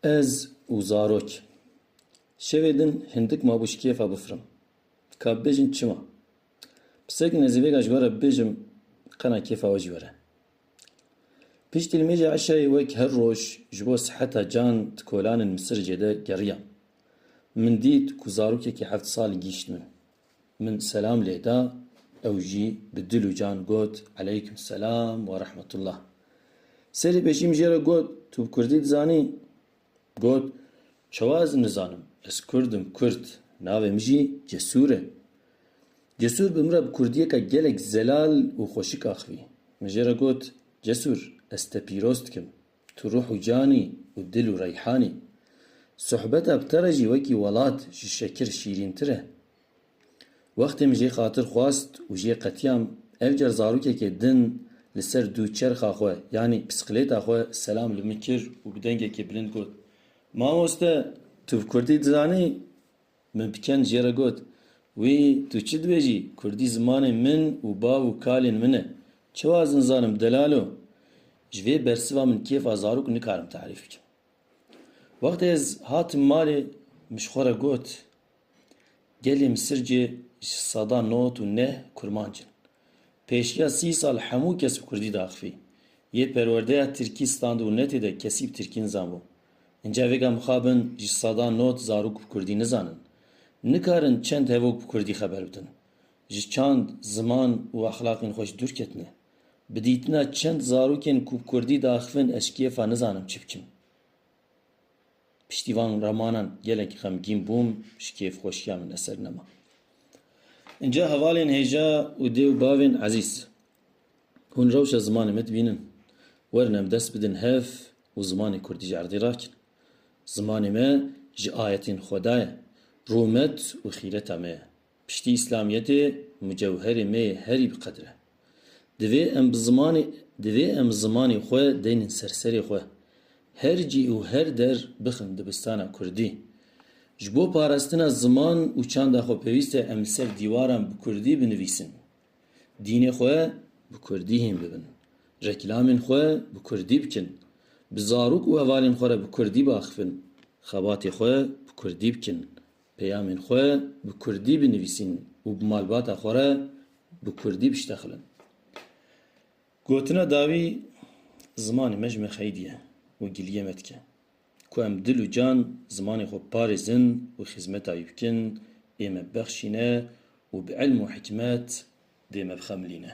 Ez û zarok. Şevê din hindik mabû ji kêfa bifirim. Ka bibêjin çima? Pisek nezîvêka ji we re bibêjim qena kêfa we jî were. Piştî li mêja eşayê wek her roj ji bo siheta can di kolanên Misiricê de geriya. Min dît ku zarokekî heft sal gîşt min. Min selam lê da, ew jî bi dil û can got, Eleyküm selam we rehmetullah. Serê pêşî min jê re got, Tu bi kurdî dizanî? Got, Çawa ez nizanim, ez kurd im, kurd, navê min jî Cesûr e. Cesûr bi min re bi kurdiyeke gelek zelal û xweşik axivî. Min jê re got, Cesûr, ez te pîroz dikim. Tu ruh û can î û dil û reyhan î. Sohbeta bi te re jî wekî welat ji şekir şîrîntir e. Wextê min jê xatir xwest û jê qetiyam, ev car zarokekê din li ser dû çerxa xwe yanî pisqilêta xwe selam li min kir û bi dengekê bilind got, Mamoste, tu bi kurdî dizanî? Min piçend jê re got, Wî tu çi dibêjî? Kurdî zimanê min û bav û kalên min e. Çi wazin zanim delalo? Ji vê bersiva min kêfa zarok nikarim tarîf bikim. Wextê ez hatim malê min ji xwe re got, Gelê Misircê ji seda not û neh kurmanc in. Pêşiya sî sal hemû kes bi kurdî diaxivî. Yê perwerdeya tirkî standibû netê de kesî bi tirkî nizanbû. Înca vêga mixabin ji sedan not zarok bi kurdî nizanin. Nikarin çend hevok bi kurdî xeber bidin. Ji çand, ziman û exlaqên xwe jî dûr ketine. Bi dîtina çend zarokên ku bi kurdî diaxivin ez kêfa nizanim çi bikim. Piştî van remanan gelek xemgîn bûm, ji kêf xweşiya min eser nema. Înca hevalên hêja û dê û bavên ezîz. Hûn rewşa zimanê me dibînin. Werin em dest bidin hev û zimanê kurdî ji erdê rakin. Zimanê me ji ayetên Xweda ye, rûmet û xîreta me ye. Piştî îslamiyetê mucewherê me yê herî bi qedir e. Divê em bi zimanê divê em zimanê xwe deynin ser serê xwe. Her cî û her der bixin dibistana kurdî. Ji bo parastina ziman û çanda xwe pêwîst e em li ser dîwaran bi kurdî binivîsin. Dînê xwe bi kurdî hîn bibin. Reklamên xwe bi kurdî bikin. Bi zarok û hevalên xwe re bi kurdî biaxivin. Xebatê xwe bi kurdî bikin. Peyamên xwe bi kurdî binivîsîn û bi malbata xwe re bi kurdî biştexilin. Gotina dawî, Zimanê me ji me xeydî ye û giliyê me dike. Ku em dil û can zimanê xwe biparêzin û xizmeta wî bikin, ê me bibexşîne û bi ilm û hikmet dê me bixemilîne.